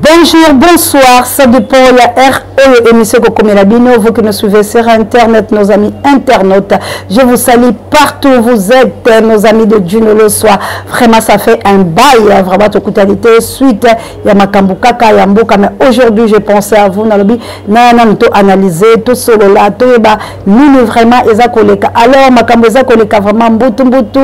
Bonjour, bonsoir, ça dépend la R oyo émission kokomela bino vous qui nous suivez sur internet nos amis internautes je vous salue partout où vous êtes nos amis de Juno le soir vraiment ça fait un bail hein, vraiment tokutani te suite ya makambo kaka ya mboka mais aujourd'hui j'ai pensé à vous nalobi nana mito analyser tosolola toyeba Lulu vraiment eza koleka alors makambo eza koleka vraiment mbutu mbutu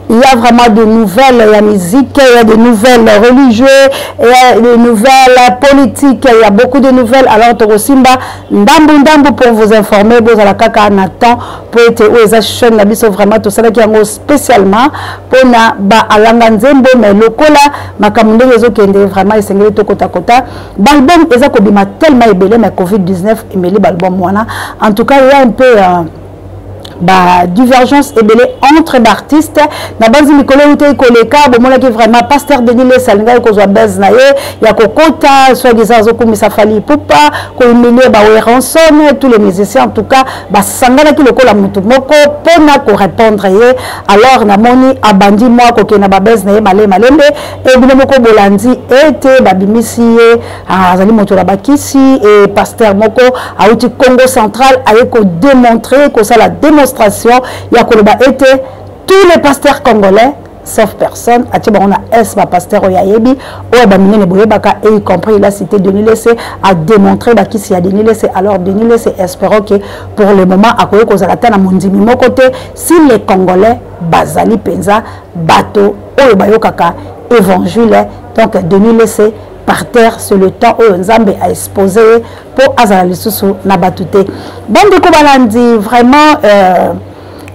il y a vraiment de nouvelles ya musique il y a de nouvelles religieux il y a de nouvelles politiques il y a beaucoup de nouvelles alors tokosimba ndambu ndambu pour vous informer bozala kaka na temps po ete oyo eza chaîne na biso vraiment tosalaki yango spécialement mpona baalanga nzembo mais lokola makambo ndenge ezokende vraiment esengeli tokotakota Balbum eza kobima tellement ebele mais Covid-19 emeli balbum wana. En tout cas, il y a un peu euh, ba divergence ebele entre baartiste na banzi mikolo eutei koleka bomonaki vraiment pasteur denis lesa alingaki kozwa base na ye ya kokota soit disant azokumisa fali ipupa kohumilie baweranson tous les musiciens en tout cas basanganaki lokola motu moko mpona korépondre ye alors namoni abandi mwa kokenda babase na ye male malembe mpe bino moko bolandi ete babimisi ye ah, azali moto na bakisi e paster moko auti congo central aye kodemontre kosala demonstration ya koloba ete tous les pasteurs congolais sauf personne atie bango na s bapaster oyo ayebi oyo baminene boyebaka e y compris la cité denis lese ademontre bakisi ya denis lese alors denis lese espérant que pour le moment akoki kozala ata na mondimi moko te si les congolais bazali mpenza bato oyo bayokaka evangile donc denis lese par terre c'est le temps oyo nzambe a expose ye mpo azala lisusu na bato te bandeko balandi vraiment euh,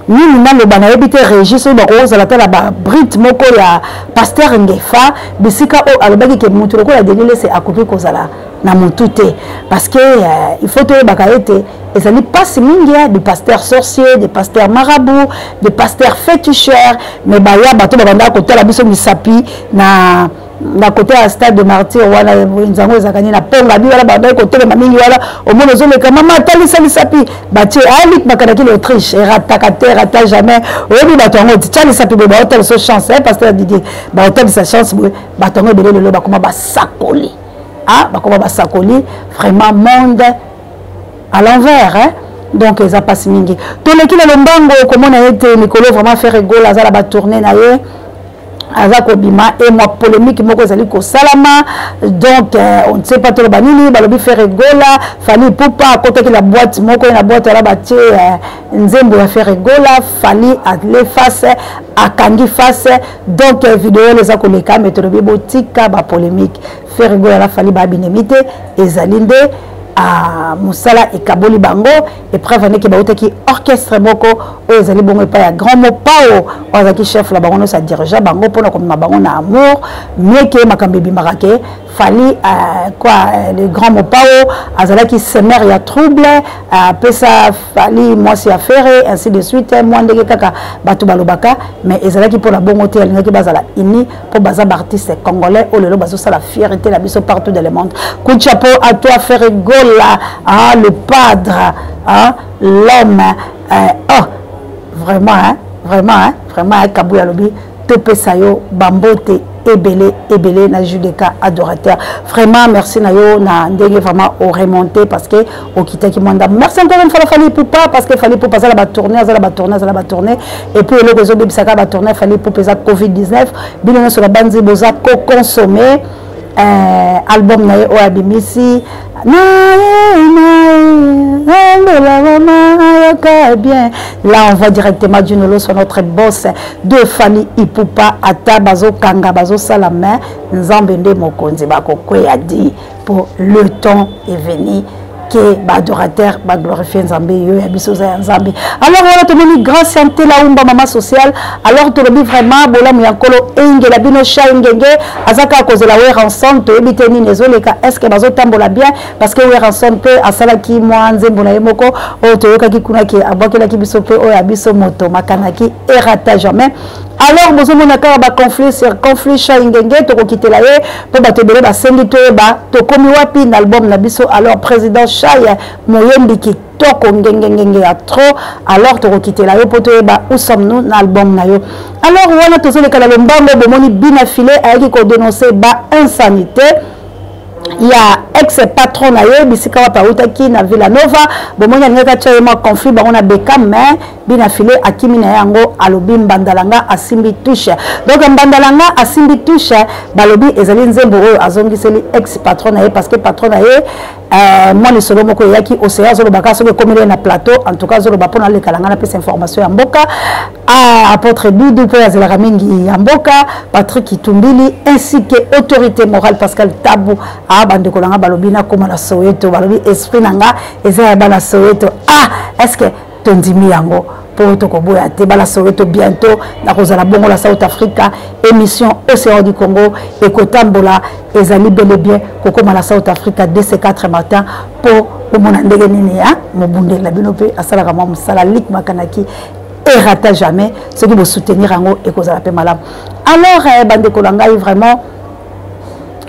nini naloba nayebi te régis oyo bakoki kozala ata na babrite moko ya paster ngefa bisika oyo alobaki ke moto lokola denilese akoki kozala na motu te parce que euh, il faut toyebaka ete ezali mpasi mingi ya des pasteurs sorciers des pasteurs marabout des pasteurs féticheurs mais baya bato babandaka kotala biso misapi na na kote ya stade de martyr wana nzango ezalaka nini na ponga bi wana bandaki kotelema mingi wana omona ozoleka mama atalisa lisapi batie alik makanaki na autriche erataka te erata jamais oyebi bato yango titya lisapi boye baotalisa chance eh, pasteur didier baotalisa chance boye bato yango ebele lelo bakoma basakoli ah bakoma basakoli vraiment monde à l'envers hein? donc eza mpasi mingi toleki na lombango komona ye te mikolo vraiment faire egol aza na batourne na ye aza kobima e mwa polémique moko ezali kosalama donc euh, on ne sait pas toloba nini balobi faire egola fali pupa akotaki na boite moko ye na boite wana batie euh, nzembo ya faire egola fali ale face akangi face donc eh, video wana eza koleka me tolobi botika bapolémique fergo yala fali babinemi te ezali nde ah, mosala ekaboli bango epreuve andeke bautaki orchestre moko oyo ezali bongo epai ya grand mopao oyo azalaki chef na bango nyonso adirigea bango mpona komema bango na amour mieke makambo ebimaka ke Fally euh, quoi euh, le grand Mopao azalaki semeur ya trouble euh, apesa Fally mwasi ya Ferre ainsi de suite mwa ndenge kaka bato balobaka mais ezalaki mpo na bongo te alingaki bazala uni mpo baza baartiste congolais oyo lelo bazosala fierité na biso partout dans le monde coup de chapeau à toi Ferre Gola hein, le padre hein, l'homme euh, oh vraiment hein, vraiment hein, vraiment hein, Kabou alobi topesa yo bambote ebele ebele na judeka adorateur vraiment merci na yo na ndenge vraiment oremonte parce que okitaki mwa ndambo merci encore une fois na fali pupa parce que fali pupa aza na batourne aza na batourne aza na batourne et puis eloko ezobebisaka batourne ya fali pupa eza covid 19 bino nyonso na banzi boza koconsomme eh, album na ye oyo abimisi bien là on voit directement junolo soit notre boss de famille ipupa ata bazokanga bazosala main nzambe nde mokonzi bakokweya di pour le temps est venu ke baadorateur baglorifie nzambe yo ya biso oza ya nzambe alors wana tomoni grâce ya ntelaumba mama social alors tolobi vraiment bolamu ya nkolo engela bino cha engenge aza kaka kozela weranson toyebi te nini ezoleka est ce que bazotambola bien parce que weranson mpe asalaki mwa nzembo na ye moko oyo toyokaki kuna ke abwakelaki biso mpe oyo ya biso moto makanaki erata jamais alors bozomona kaka baconflit sur conflit shai ngenge tokokitela ye mpo bato ebele basengi toyeba tokomi wapi na album na biso alors président shai moyembi kitoko ngengengenge ya trop alors tokokitela yo mpo toyeba où sommes nous na album na yo alors wana tozoleka na lombango bomoni bina file ayaki kodenonce ba insanité ya ex patron na ye bisika wapi awutaki na villanova bomoni alingaki atya ye mwa conflit bango na beka mais bina file akimi na ye yango alobi mbandalanga asimbi touche donc mbandalanga asimbi touche balobi ezali nzembo oyo azongiseli ex patron na ye parce que patron na ye euh, mwa lisolo moko eyaki oseya azoloba kaka soki ekomeli ye na plateau en tout cas azoloba mpo nalekala ngai napesa information ya mboka ah, apôtre dudu mpo azelaka mingi ya mboka patrick itumbili ainsi que autorité morale pascal tabu ah, bandeko na ngai balobi nakoma na soweto balobi esprit na ngai eza ya bana soweto ah, est ce que tondimi yango mpo tokoboya te bala soweto bientôt nakozala bongo na south africa émission océan du congo ekotambola ezali bele bien kokóma na south africa dc 4 matin mpo komona ndenge nini ya mobundeli na bino mpe asalaka mwa mosala lik makanaki erata jamais soki bosoutenir yango ekozala mpe malamu alors eh, bandeko na ngai vraiment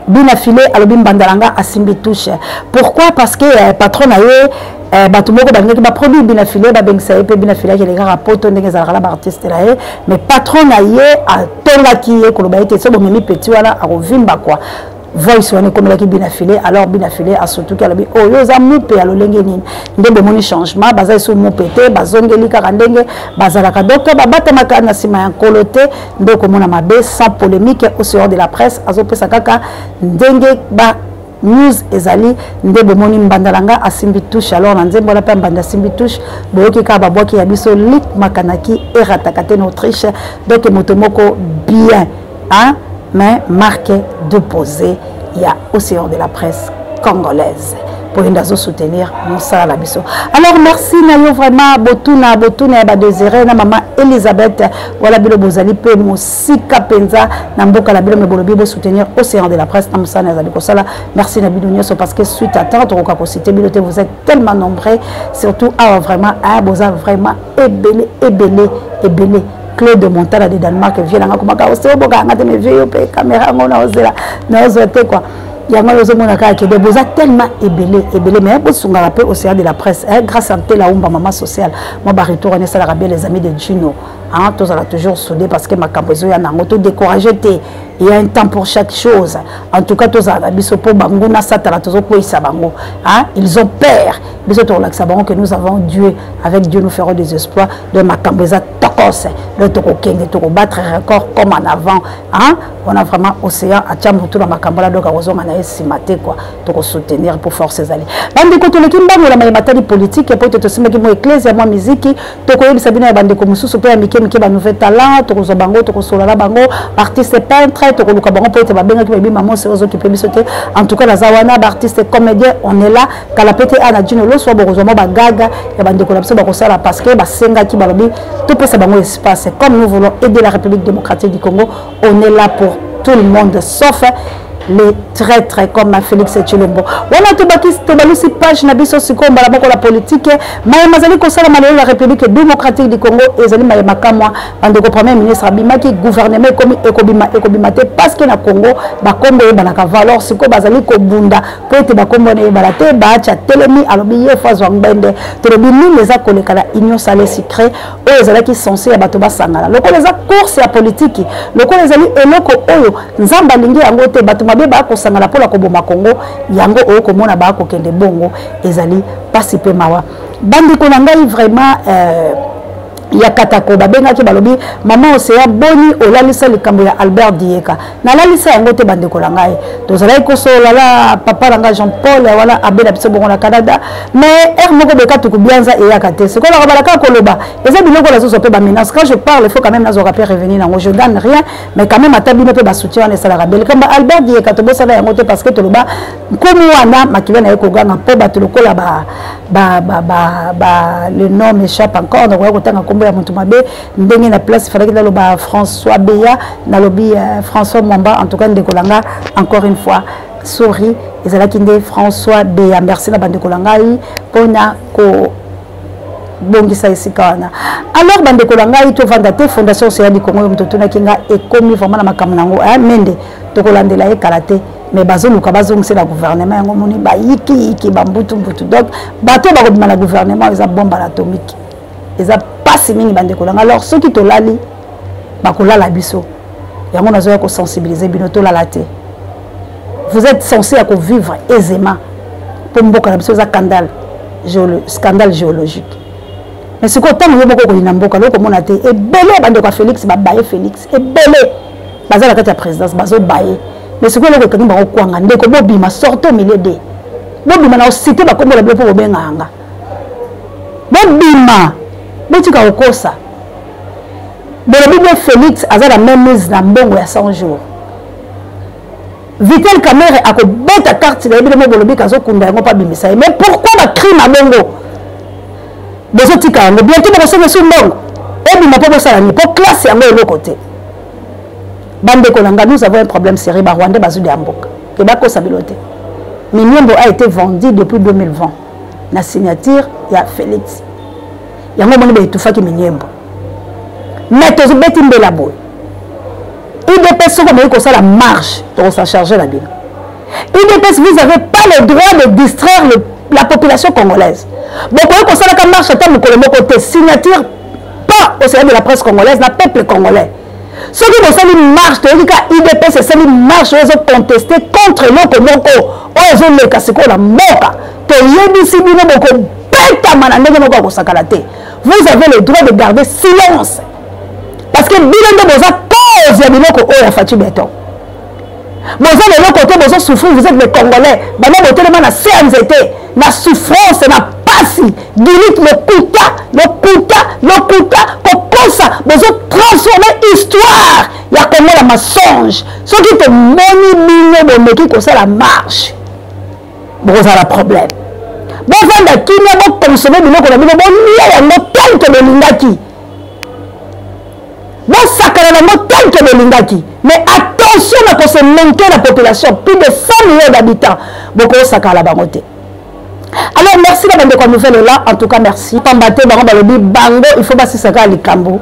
bina file alobi mbanda na nga asimbi touche pourquoi parce que eh, patron na ye eh, bato moko balingaki baproduit bina file babengisa ye mpe bina file akende kaka poto ndenge ezalaka na baartiste na ye mais patron na ye atongaki ye koloba ete so bomemi peti wana akovimba kua voice wana ekomelaki bina file alors bina file asutuki alobi oyo oh, oza mupe ya lolenge nini nde bomoni changement baza esu mupe te bazongeli kaka ndenge bazalaka donc babatamaka na nsima ya nkolo te nde okomona mabe sans polémique au sehors de la presse azopesa kaka ndenge ba news ezali nde bomoni mbanda na nga asimbi touche alors na nzembo wana mpe mbanda asimbi touche boyoki kaka babwaki ya biso lik makanaki erataka te na autriche donc moto moko bien hein? mais marque de poser ya océan de la presse congolaise mpo yende azosoutenir mosala na biso alors merci na yo vraiment botuna botuna ya badesire na mama elisabeth wana bino bozali mpe mosika mpenza na mboka na bino me bolobi bosoutenir océan de la presse na mosala nazali kosala merci na bino nyonso parce que suite à temps tokoka kosite bino te vous êtes tellement nombreux surtout awa vraiment boza vraiment ebele ebele ebele Claude Montana de Danemark vie nanga komaka oseo boka nga te me vie yo pe camera ngo na ozela na ozo te quoi yango ozo mona kaka kede boza tellement ebele ebele mais bosungaka pe océan de la presse eh, grâce à Ntela Umba maman sociale moi ba retour on esalaka bien les amis de Gino hein tozala toujours soudé parce que makambo ezo ya nango to décourager te il y a un temps pour chaque chose en tout cas tozala na biso po bango na satana tozo kweyisa bango hein ils ont peur biso tokolakisa bango que nous avons dieu avec dieu nous ferons des espoirs donc makambo eza tokose donc tokokende tokobattre record comme en avant hein? on a vraiment océan atya motu na makambo la donc akozonga na ye nsima te kua tokosoutenir mpo force ezali bandeko toleki mbangola maye matali politike mpo ete tosimbaki mwa eklesia mwa miziki tokoyebisa bino ya bandeko mosusu mpe ya mike mike banouvelle talent tokozwa bango tokosolola na bango baartiste peintre tokoluka bango mpo ete babengaki bayebi mamosi ozokipe biso te en tout cas naza wana baartiste comédien on est là kala pete ana djino loso bokozwa mwa bagaga ya bandeko na biso bakosala parce que basengaki balobi topesa bango espace comme nous voulons aider la république démocratique du congo on est là pour tout le monde sauf les traîtres comme félix tshilombo wana tobalusi page na biso sikoyo mbala moko la politike maye mazali kosalama lelo la république démocratique du congo ezali maye makamwa bandeko premier ministre abimaki gouvernement ekomi ekobima ekobima te parce que na congo bakombo eyebanaka valor sikoyo bazali kobunda mpo ete bakombo wana eyebana te baacha telemi alobi ye fo azwa ngbende tolobi nini eza koleka na union sale sucre oyo ezalaki sense ya bato basangana lokola eza course ya politiki lokola ezali eloko oyo nzambe alingi yango te bato mabe baya kosangana mpo na koboma kongo yango oyo komona baya kokende bongo ezali mpasi mpe mawa bandeko na ngai vraiment euh, ya katako babengaki balobi mama oseya boni olalisa likambo ya albert dieka nalalisa yango te bandeko na ngai tozalaki kosolola na papa na ngai jean paul wana abe na biso bongo na canada mais heure moko bekatuku bianza eyaka te sikoyo nakobala kaka koloba eza biloko nazozwa mpe bamenance quand je parle faut quand même nazwaka mpe revenu nango je gagne rien mais quand même ata bino mpe basoutien wana esalaka belikambo albert dieka tobosana yango te parce que toloba nkumu wana makila na ye koganga mpo bato lokola ba, ba, ba, ba, ba le nom échappe encore nakoya kotanga nkombo ya moto mabe ndenge na place ifalaki naloba françois beya nalobi uh, françois mwamba en tout cas ndeko na nga encore une fois sori ezalaki nde françois beya merci na bandeko na ngai mpo na ko bongisa esika wana alors bandeko na ngai tovanda te fondation oseya likongo oyo moto otunaki ngai ekomi vraiment na makambo na yango mende tokolandela ye kala te mais bazoluka bazongisela gouvernement yango moni bayikiyiki bambutumbutu donc bato bakobima na gouvernement eza bombe na atomike eza mpasi mingi bandeko nanga alors soki tolali bakolala biso yango nazoya kosensibilize bino tolala te vous êtes censé ya kovivre aisément mpo mboka na biso eza scandale scandale géologique mais sikoyo ntango yo moko okolina mboka lokomona te ebele bandeko ya félix babaye félix ebele baza na kati ya présidence bazobaye mais sikoyo eloko ekangi bango kwanga ndeko bobima sorte au milieu de bobima na osite bakombo na bino mpo bobenga yanga bobima botika kokosa bolobi bino félix aza na même mise na mbongo ya 100 jours Vital Kamerhe akobeta carte na ye bino mobolobi kazokunda yango mpo abimisa ye mais pourquoi bacrime ya bongo bozotika yango bientôt bokosonga esu mbongo ebima mpo bosala nini mpo classe yango eloko te bandeko na ngai nous avons un problème sérieux barwandais bazwi ya mboka ke bakosa bino te miniembo a été vendu depuis 2020 na signature ya félix yango omoni baetufaki miniembo mais tozobeti mbela boye udps soki omeki kosala marche tokosa charge na bino udps vous avez pas le droit de distraire le, la population congolaise bokoki kosalaka marche ata mokolo moko te signature pas au service de la presse congolaise na peuple congolais soki bosali marche toyoki ka udps esali marche oyo ezoconteste contre eloko moko oyo ezoleka sikoyo na mboka toyebisi bino bokobetama na ndenge moko ya kosakana te vous avez le droit de garder silence parce que bino nde boza cause ya biloko oyo ya faci beton boza na eloko te bozo souffrir vous êtes les congolais banda botelema na cnz te na souffrance na pasi dilite lokuta lokuta lokuta kokosa bozo transforme histoire ya kongo na mensonge soki tomoni bino bomeki kosala marche bokozala problème bovanda kimia bokonsome biloko na bino bolia yango tel ke bolingaki bosakana nango tanke bolingaki mais attention na kose manke na population plus de 100 millions d'habitants bokosakala bango te alors merci na bandeko ya nouvelle ela en tout cas merci pamba te bango balobi bango il faut basisa kaka likambo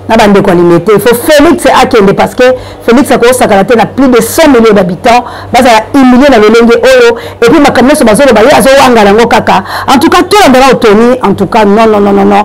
na bandeko ya limete il faut félix akende parce que félix akosakana te na plus de 100 millions d'habitants bazala humilie na lolenge oyo epuis makambo nyonso bazoloba ye azowangana yango kaka en tout cas tolandaka otoni en tout cas non non non non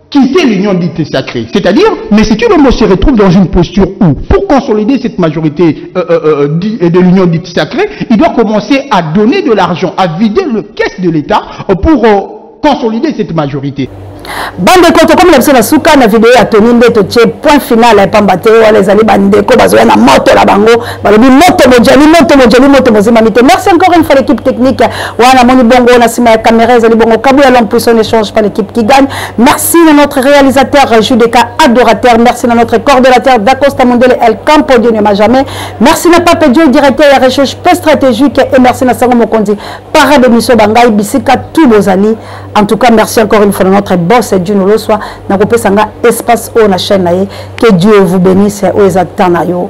quitter l'union dite sacrée. C'est-à-dire, mais si Tshilombo se retrouve dans une posture où, pour consolider cette majorité euh, euh, euh, euh de l'union dite sacrée, il doit commencer à donner de l'argent, à vider le caisse de l'État pour euh, consolider cette majorité. bandeko tokomi na biso na suka na video ya toni nde totie point final ya pamba te wana ezali bandeko bazoya na moto na bango balobi moto mojali moto mojali moto mozimami te merci encore une fois l'équipe technique wana moni bongo na nsima ya caméra ezali bongo kabuya l'homme puissant ne change pas l'équipe qui gagne merci na notre réalisateur judeka adorateur merci na notre coordonnateur dacosta mondele el campo dieu ne ma jamais merci na pape dieu directeur ya recherche pe stratégique et merci na sango mokonzi para de miso bangai bisika tout bozali en tout cas merci encore une fois na notre boss dieu noloswa nakopesa nga espace oyo na chaîne na ye que dieu vous bénisse oyo eza temps na yo